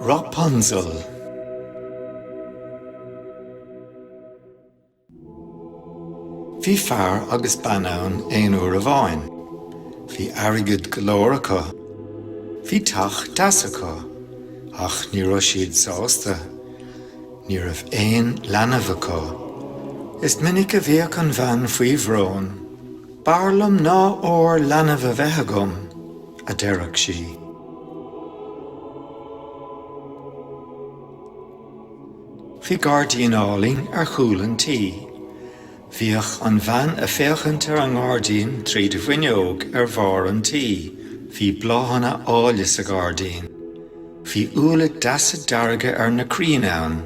Rapunzel. Bhí fear agus bean ann aon uair amháin. Bhí airgead go leor acu. Bhí teach deas acu. Ach ní raibh siad sásta. Ní raibh aon leanbh acu. Is minic a bhíodh an bhean faoi bhrón. B'fhearr liom ná ór leanbh a bheith agam, a deireadh sí. Bhí gairdín álainn ar chúl an tí. Bhíodh an bhean a féachaint ar an ngairdín tríd an bhfuinneog ar bharr an tí. Bhí bláthanna áille sa ghairdín. Bhí úlla deasa dearga ar na crainn ann.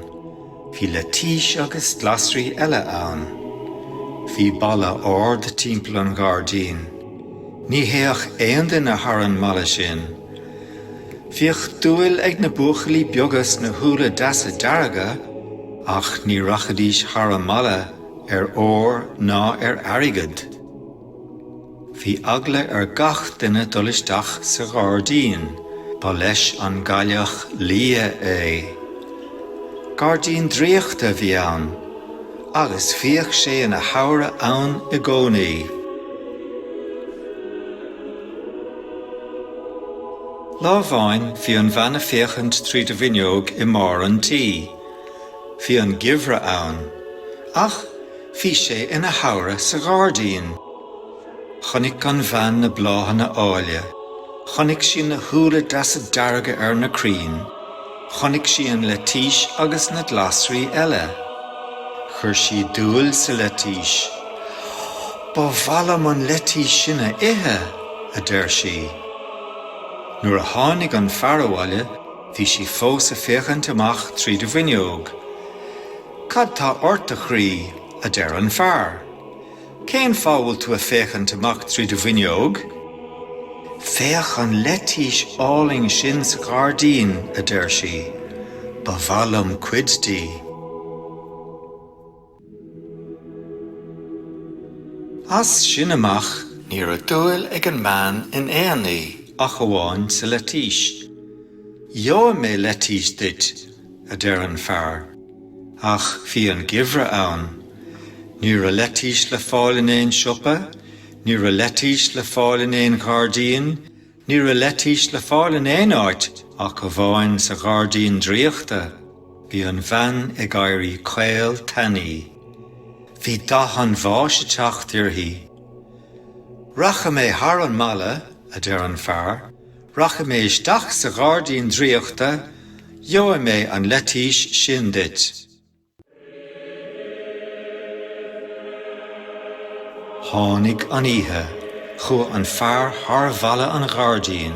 Bhí leitís agus glasraí eile ann. Bhí balla ard timpeall an ghairdín. Ní théadh aon duine thar an mballa sin. Bhíodh dúil ag na buachaillí beaga sna húlla deasa dearga, ach ní rachaidís thar an mballa ar ór ná ar airgead. Bhí eagla ar gach duine dul isteach sa ghairdín, ba leis an gCailleach Liath é. Gairdín draíochta a bhí ann, agus bhíodh sé ina shamhradh ann i gcónaí. Lá amháin bhí an bhean a féachaint tríd an bhfuinneog i mbarr an tí. Bhí an geimhreadh ann, ach Bhí sé ina shamhradh sa ghairdín. Chonaic an bhean na bláthanna áille. Chonaic sí na húlla deasa dearga ar na crainn. Chonaic sí an leitís agus na glasraí eile. Chuir sí dúil sa leitís. 'Ba mhaith liom an leitís sin a ithe! a deir sí. Nuair a tháinig an fear abhaile bhí sí fós a féachaint amach tríd an bhfuinneog. Cad tá ort, a chroí? a deir an fear. Cén fáth a bhfuil tú a féachaint amach tríd an bhfuinneog? Féach an leitís álainn sin sa ghairdín, a deir sí. Ba mhaith liom cuid di. As sin amach, ní raibh dúil ag an mbean in aon ní ach amháin sa leitís. Gheobhaidh mé leitís duit, a deir an fear. Ach bhí an geimhreadh ann. Ní raibh leitís le fáil in aon siopa, ní raibh leitís le fáil in aon ghairdín, ní raibh leitís le fáil in aon áit ach amháin sa ghairdín draíochta. Bhí an bhean ag éirí caol tanaí. Bhí dath an bháis ag teacht uirthi. Rachaidh mé thar an mballa, a deir an fear, Rachaidh mé isteach sa ghairdín draíochta, gheobhaidh mé an leitís sin duit. Tháinig an oíche, chuaigh an fear thar bhalla an ghairdín.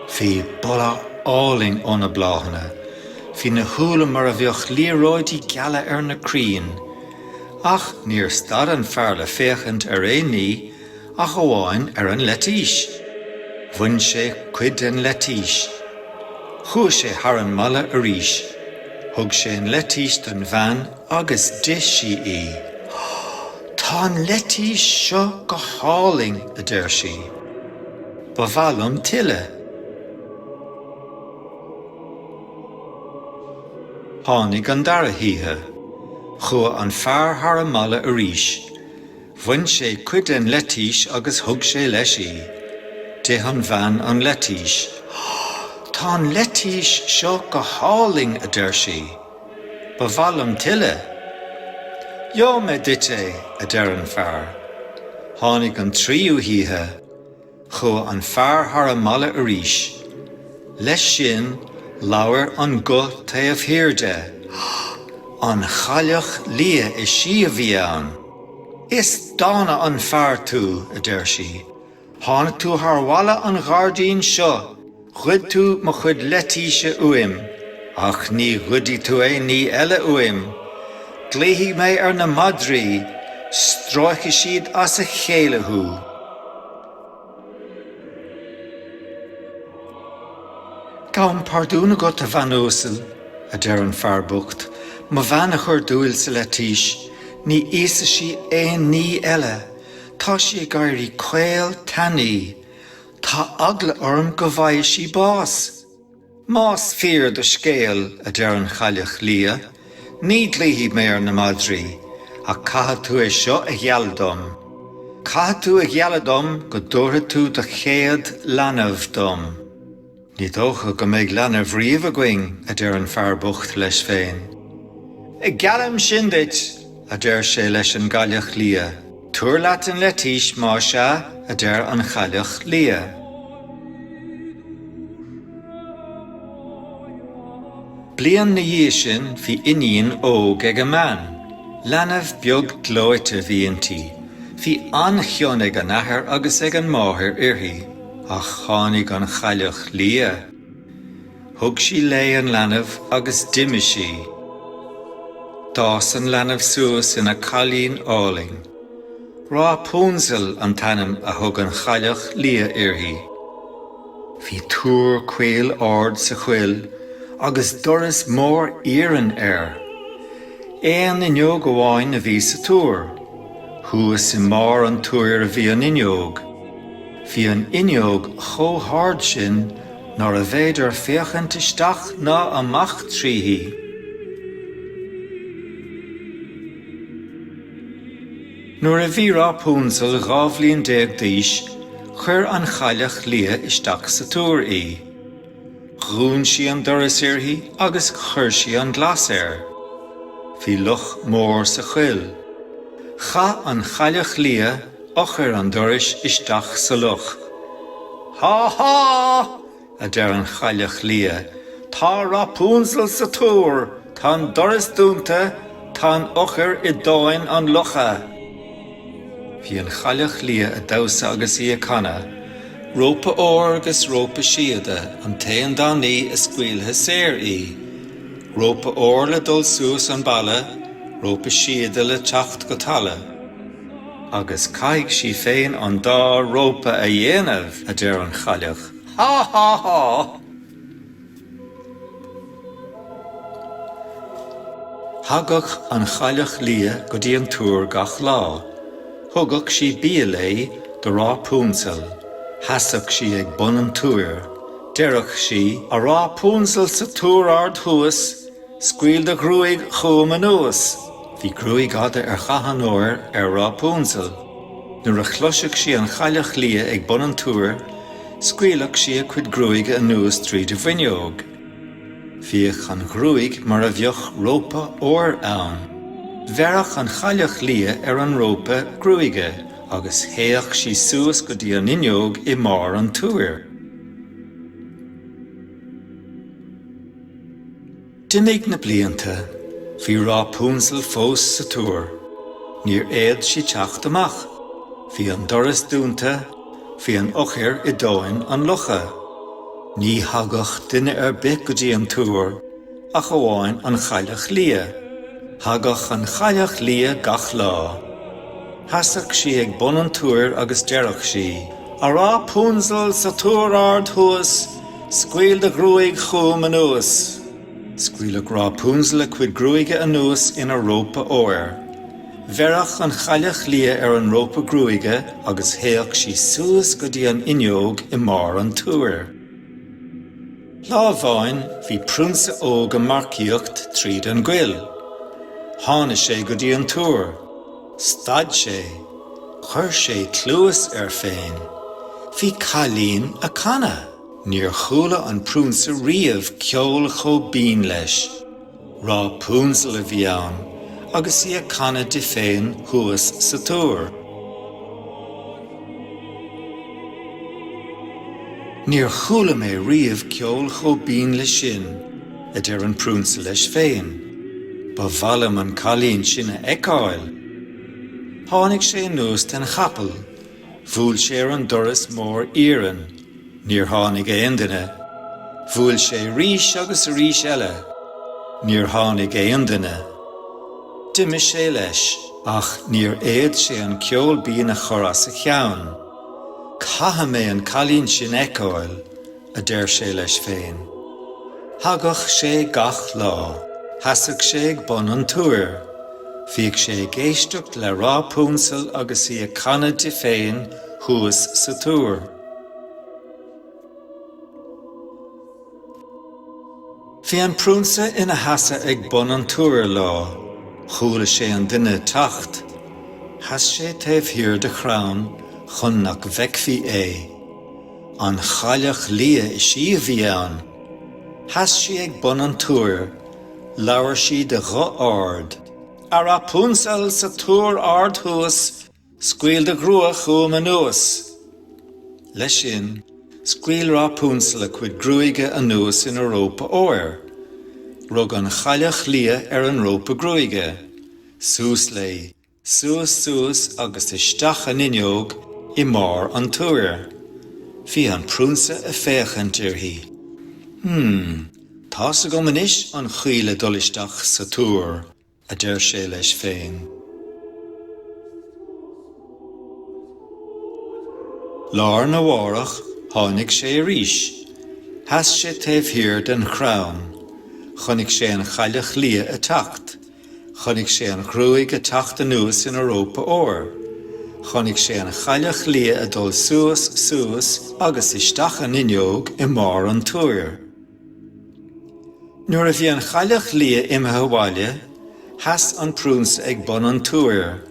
Bhí boladh álainn ó na bláthanna, bhí na húlla mar a bheadh liathróidí geala ar na crainn. Ach níor stad an fear le féachaint ar aon ní. ach amháin ar an leitís. Bhain sé cuid den leitís. Chuaigh sé thar an mballa arís. Thug sé an leitís don bhean agus d'ith sí í. Tá an leitís seo go hálainn, a deir sí. Ba mhaith liom tuilleadh. Tháinig an dara hoíche. Chuaigh an fear thar an mballa arís. Bhain sé cuid den leitís agus thug sé leis í. D'ith an bhean an leitís. Tá an leitís seo go hálainn, a deir sí. Ba mhaith liom tuilleadh. Gheobhaidh mé duit é, a deir an fear. Tháinig an tríú hoíche. Chuaigh an fear thar an mballa arís. Leis sin labhair guth taobh thiar de, An Chailleach Liath, is í a bhí ann. Is dána an fear tú, a deir sí. Tháinig tú thar bhalla an ghairdín seo Ghoid tú mo chuid leitíse uaim, ach ní ghoidfidh tú aon ní eile uaim. Glaofaidh mé ar na madraí, stróicfidh siad as a chéile thú. Gabhaim pardún agat, a bhean uasal, a deir an fear bocht, mo bhean a chuir dúil sa leitís, ní íosfaidh sí aon ní eile, tá sí ag éirí caol tanaí. Tá eagla orm go bhfaighidh sí bás. Más fíor do scéal, a deir an Chailleach Liath, ní ghlaofaidh mé ar na madraí, ach caithfidh tú é seo a ghealladh dom. Caithfidh tú a ghealladh dom go dtabharfaidh tú do chéad leanbh dom. Ní dócha go mbeidh leanbh riamh againn, a deir an fear bocht leis féin. Geallaim sin duit, a deir sé leis an gCailleach Liath. Tabhair leat an leitís, más ea, a deir an Chailleach Liath. Bliain 'na dhiaidh sin bhí iníon óg ag an mbean. Leanbh beag gleoite bhí inti. Bhí an-chion ag an athair agus ag an máthair uirthi. Ach tháinig an Chailleach Liath. Thug sí léi an leanbh agus d'imigh sí. D'fhás an leanbh suas ina cailín álainn. Rápúnzell an t-ainm a thug an Chailleach Liath uirthi. Bhí túr caol ard sa choill agus doras mór iarainn air. Aon fhuinneog amháin a bhí sa túr. Thuas i mbarr an túir a bhí an fhuinneog. Bhí an fhuinneog chomh hard sin nárbh fhéidir féachaint isteach ná amach tríthi. Nuair a bhí Rápúnzell dhá bhliain déag d'aois, chuir an Chailleach Liath isteach sa túr í. Dhún sí an doras uirthi agus chuir sí an glas air. Bhí loch mór sa choill. Chaith an Chailleach Liath eochair an dorais isteach sa loch. Há há! a deir an Chailleach Liath, tá Rápúnzell sa túr, tá an doras dúnta, tá an eochair i dtóin an locha. Bhí an Chailleach Liath ag damhsa agus í ag canadh, Rópa óir 'gus rópa síoda an t-aon dá ní a scaoilfidh saor í, Rópa óir le dul suas an balla, rópa síoda le teacht go talamh. Agus caithfidh sí féin an dá rópa a dhéanamh, a deir an chailleach. Há! Há! Há! Thagadh an Chailleach Liath go dtí an túr gach lá. Thugadh sí bia léi do Rápúnzell. Sheasadh sí ag bun an túir. Deireadh sí, 'A Rápúnzell sa túr ard thuas, Scaoil do ghruaig chugam anuas. Bhí gruaig fhada ar dhath an óir ar Rápúnzell. Nuair a chloiseadh sí an Chailleach Liath ag bun an túir, scaoileadh sí a cuid gruaige anuas tríd an bhfuinneog. Bhíodh an ghruaig mar a bheadh rópa óir ann. Bheireadh an Chailleach Liath ar an rópa gruaige agus théadh sí suas go dtí an fhuinneog i mbarr an túir. D'imigh na blianta. Bhí Rápúnzell fós sa túr. Níor fhéad sí teacht amach. Bhí an doras dúnta. Bhí an eochair i dtóin an locha. Ní thagadh duine ar bith go dtí an túr ach amháin an Chailleach Liath. Thagadh an Chailleach Liath gach lá. Sheasadh sí ag bun an túir agus deireadh sí, A Rápúnzell, sa túr ard thuas, Scaoil do ghruaig chugam anuas. Scaoileadh Rápúnzell a cuid gruaige anuas ina rópa óir. Bheireadh an chailleach liath ar an rópa gruaige agus théadh sí suas go dtí an fhuinneog i mbarr an túir. Lá amháin bhí prionsa óg ag marcaíocht tríd an gcoill. Tháinig sé go dtí an túr. Stad sé. Chuir sé cluas air féin. Bhí cailín a' canadh. Níor chuala an prionsa riamh ceol chomh binn leis. Rápúnzell a bhí ann, agus í a' canadh di féin thuas sa túr. Níor chuala mé riamh ceol chomh binn leis sin. a deir an prionsa leis féin, ba mhaith liom an cailín sin a fheiceáil. Tháinig sé anuas den chapall, bhuail sé ar an doras mór iarainn, níor tháinig aon duine, bhuail sé arís agus arís eile, níor tháinig aon duine. D'imigh sé leis, ach níor fhéad sé an ceol binn a chur as a cheann, Caithfidh mé an cailín sin a fheiceáil! a deir sé leis féin. Thagadh sé gach lá, sheasadh sé ag bun an túir. Bhíodh sé ag éisteacht le Rápúnzell agus í ag canadh di féin thuas sa túr. Bhí an prionsa ina sheasamh ag bun an túir lá. Chuala sé duine ag teacht. Sheas sé taobh thiar de chrann chun nach bhfeicfí é. An Chailleach Liath is í siúd a bhí ann. Sheas sí ag bun an túir. Labhair sí de ghuth ard. A Rápúnzell sa túr ard thuas, Scaoil do ghruaig chugam anuas. Leis sin, scaoil Rápúnzell a cuid gruaige anuas ina rópa óir. Rug an Chailleach Liath ar an rópa gruaige. Suas léi. suas suas agus isteach an fhuinneog i mbarr an túir. Bhí an priúnsa a féachaint uirthi. Hm, tá's agam anois an chaoi le dul isteach sa túr, a deir sé leis féin. Lá'r na mhárach tháinig sé arís. Sheas sé taobh thiar den chrann. Chonaic sé an Chailleach Liath a teacht. Chonaic sé an ghruaig a teacht anuas ina rópa óir. Chonaic sé an chailleach liath a dul suas, suas agus isteach an fhuinneog i mbarr an túir. Nuair a bhí an chailleach liath imithe abhaile, sheas an priúnsa ag bun an túir.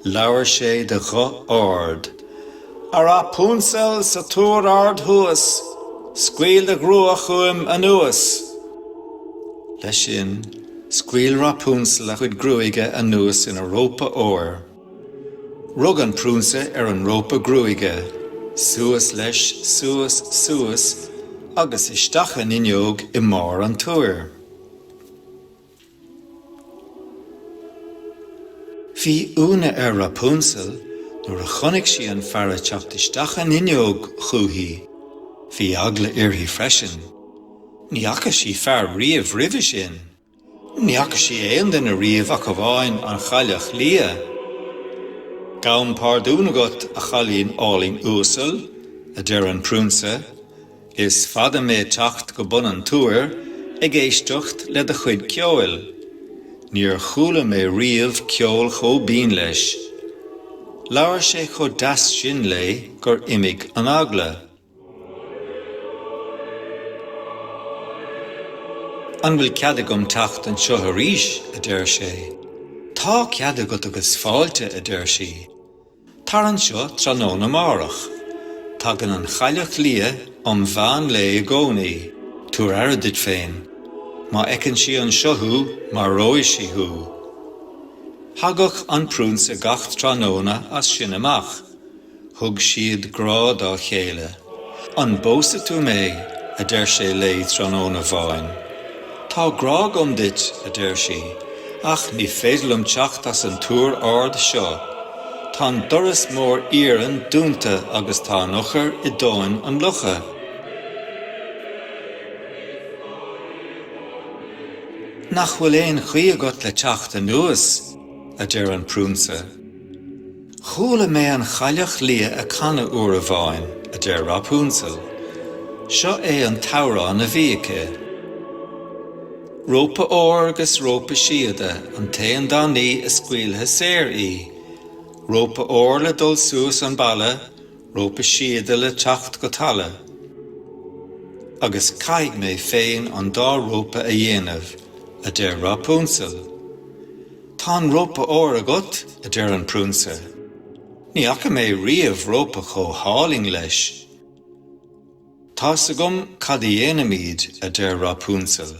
Labhair sé de ghuth ard, A Rapunzel sa túr ard thuas, Scaoil do ghruaig chugam anuas! Leis sin, scaoil Rapunzel a cuid gruaige anuas ina rópa óir. Rug an priúnsa ar an rópa gruaige. Suas leis, suas, suas, agus isteach an fhuinneog i mbarr an túir. Bhí ionadh ar Rapunzel nuair a chonaic sí an fear ag teacht isteach an fhuinneog chuici. Bhí eagla uirthi freisin. Ní fhaca sí fear riamh roimhe sin. Ní fhaca sí aon duine riamh ach amháin an Chailleach Liath. Gabhaim párdún agat, a chailín álainn uasail, a deir an priúnsa. Is fada mé ag teacht go bun an túir ag éisteacht le do chuid ceoil. Níor chuala mé riamh ceol chomh binn leis. Labhair sé chomh deas sin léi gur imigh an eagla. An bhfuil cead agam teacht anseo arís? a deir sé. Tá cead agat agus fáilte, a deir sí. Tar anseo tráthnóna amárach. Tagann an Chailleach Liath um mheán lae i gcónaí. Tabhair aire duit féin. Má fheiceann sí anseo thú, maróidh sí thú. Thagadh an Priúnsa gach tráthnóna as sin amach. Thug siad grá dá chéile. 'An bpósfaidh tú mé? a deir sé léi tráthnóna amháin. 'Tá grá agam duit, a deir sí, 'ach ní féidir liom teacht as an túr ard seo. Tá an doras mór iarainn dúnta agus tá an eochair i dtóin an locha. Nach bhfuil aon chaoi agat le teacht anuas? a deir an priúnsa. 'Chuala mé an Chailleach Liath a' canadh uair amháin, a deir Rápúnzell. 'Seo é an t-amhrán a bhí aici. Rópa óir 'gus rópa síoda an t-aon dá ní a scaoilfidh saor í. Rópa óir le dul suas an balla, rópa síoda le teacht go talamh. Agus caithfidh mé féin an dá rópa a dhéanamh, a deir Rápúnzell. Tá an rópa óir agat, a deir an priúnsa. Ní fhaca mé riamh rópa chomh hálainn leis. Tá 's agam cad a dhéanfaimíd, a deir Rápúnzell.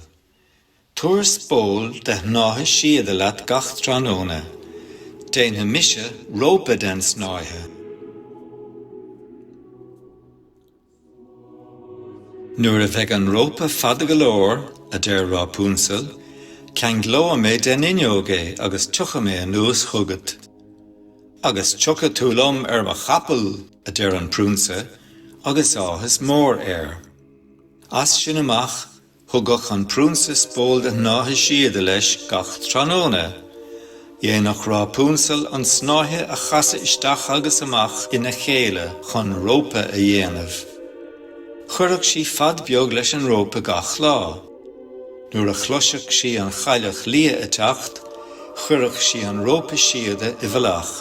Tabhair spól de shnáithe síoda leat gach tráthnóna. Déanfaidh mise rópa den snáithe. Nuair a bheidh an rópa fada go leor, a deir Rápúnzell, ceanglóidh mé den fhuinneog é agus tiocfaidh mé anuas chugat. Agus tiocfaidh tú liom ar mo chapall! a deir an Priúnsa agus áthas mór air. As sin amach, Thugadh an priúnsa spól de shnáithe síoda leis gach tráthnóna. Dhéanadh Rápúnzell an snáithe a chasadh isteach agus amach ina chéile chun rópa a dhéanamh. Chuireadh sí fad beag leis an rópa gach lá. Nuair a chloiseadh sí an Chailleach Liath a' teacht, chuireadh sí an rópa síoda i bhfolach.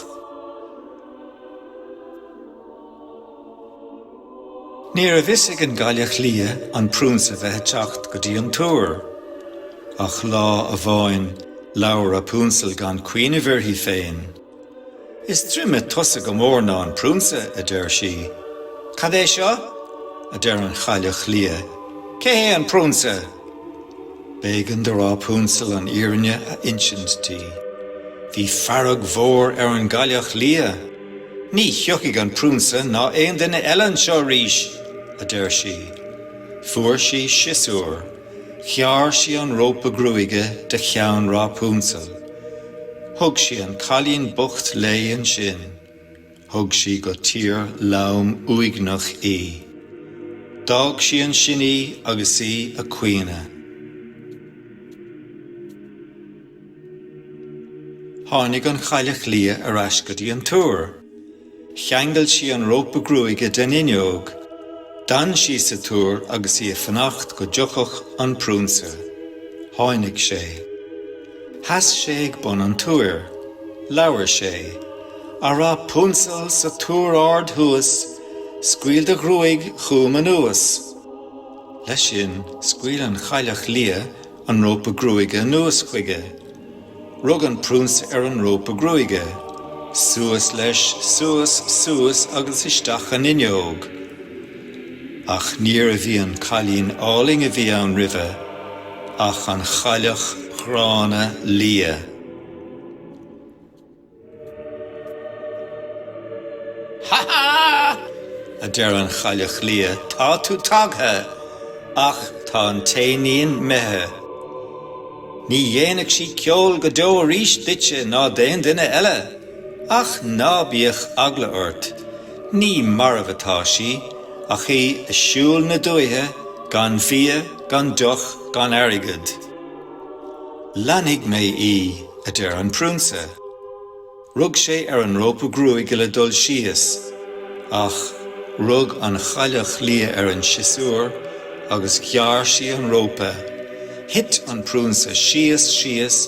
Ní raibh fhios ag an gCailleach Liath an priúnsa bheith a' teacht go dtí an túr. Ach lá amháin labhair Rápúnzell gan cuimhneamh uirthi féin. Is troime tusa go mór ná an priúnsa, a deir sí. Cad é seo? a deir an Chailleach Liath, cé hé an priúnsa? B'éigean do Rápúnzell an fhírinne a insint di. Bhí fearg mhór ar an gCailleach Liath. 'Ní thiocfaidh an Priúnsa ná aon duine eile anseo arís! a deir sí. Fuair sí siosúr. Ghearr sí an rópa gruaige de cheann Rápúnzell. Thug sí an cailín bocht léi ansin. Thug sí go tír lom uaigneach í. D'fhág sí ansin í agus í a' caoineadh. Tháinig an Chailleach Liath ar ais go dtí an túr. Cheangail sí an rópa gruaige den fhuinneog. D'fhan sí sa túr agus í ag fanacht go dtiocfadh an priúnsa. Tháinig sé. Sheas sé ag bun an túir. Labhair sé. A Rápúnzell sa túr ard thuas, scaoil do ghruaig chugam anuas. Leis sin, scaoil an Chailleach Liath an rópa gruaige anuas chuige. Rug an priúnsa ar an rópa gruaige. Suas leis, suas, suas agus isteach an fhuinneog. Ach níorbh í an cailín álainn a bhí ann roimhe, ach an chailleach ghránna liath. Ha ha! a deir an Chailleach Liath, tá tú tagtha! Ach tá an t-éinín 'mithe. Ní dhéanfaidh sí ceol go deo arís duitse ná d'aon duine eile. Ach ná bíodh eagla ort. Ní marbh atá sí, ach í ag siúl na dúthaí gan bhia, gan deoch, gan airgead. Leanfaidh mé í, a deir an Priúnsa. Rug sé ar an rópa gruaige le dul síos, ach rug an Chailleach Liath ar an siosúr agus ghearr sí an rópa. Thit an Priúnsa síos, síos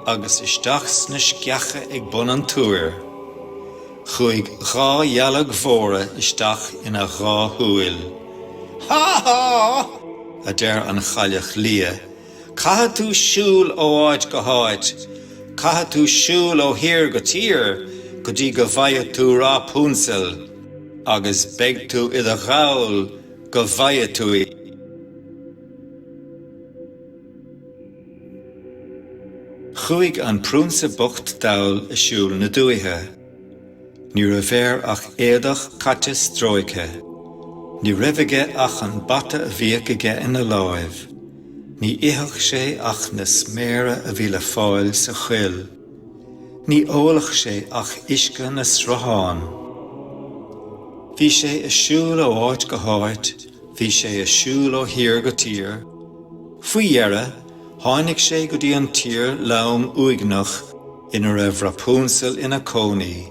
agus isteach sna sceacha ag bun an túir. Chuaigh dhá dhealg mhóra isteach ina dhá shúil. Há! Há! a deir an Chailleach Liath. Caithfidh tú siúl ó áit go háit, caithfidh tú siúl ó thír go tír go dtí go bhfaighidh tú Rapunzel agus beidh tú i do dhall go bhfaighidh tú í. Chuaigh an priúnsa bocht dall ag siúl na dúthaí. Ní raibh air ach éadach caite stróicthe. Ní raibh aige ach an bata a bhíodh aige ina láimh. Ní itheadh sé ach na sméara a bhí le fáil sa choill. Ní óladh sé ach uisce na sruthán. Bhí sé ag siúl ó áit go háit, bhí sé ag siúl ó thír go tír. Faoi dheireadh, tháinig sé go dtí an tír lom uaigneach. ina raibh Rapunzel ina cónaí.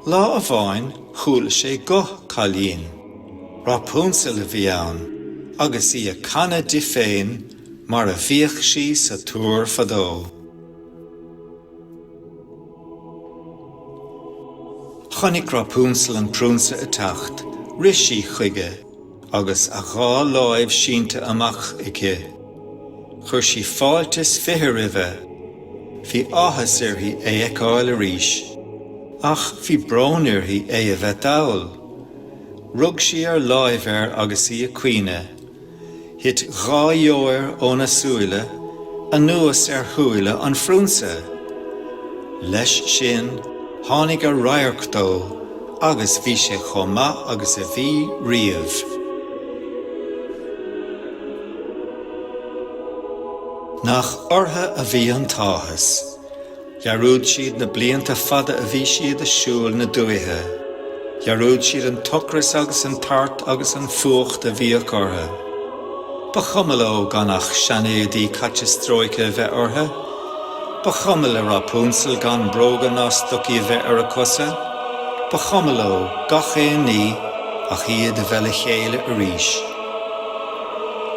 Lá amháin chuala sé guth cailín. Rapunzel a bhí ann, agus í ag canadh di féin mar a bhíodh sí sa Túr fadó. Chonaic Rapunzel an Priúnsa ag teacht. Rith sí chuige. Agus a dhá lámh sínte amach aici, chuir sí fáilte is fiche roimhe. Bhí áthas uirthi é fheiceáil arís, ach bhí brón uirthi é a bheith dall. Rug sí ar láimh air agus í ag caoineadh. Thit dhá dheoir óna súile anuas ar shúile an Phriúnsa. Leis sin, tháinig an radharc dó. agus bhí sé chomh maith agus a bhí riamh. Nach orthu a bhí an t-áthas! Dhearúd siad na blianta fada a bhí siad ag siúl na dúiche. Dhearúd siad an t-ocras agus an tart agus an fuacht a bhíodh orthu. Ba chuma leo gan ach seanéadaí caite stróicthe a bheith orthu, Ba chuma le Rapunzel gan bróga ná stocaí a bheith ar a cosa, ba chuma leo gach aon ní ach iad a bheith le chéile arís.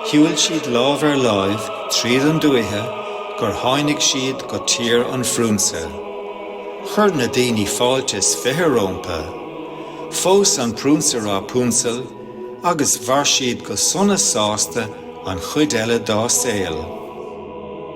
Shiúil siad lámh ar láimh tríd an dúiche gur tháinig siad go Tír an Phriúnsa. Chuir na daoine fáilte is fiche rómpa. Phós an priúnsa Rapunzel agus mhair siad go sona sásta an chuid eile dá saol.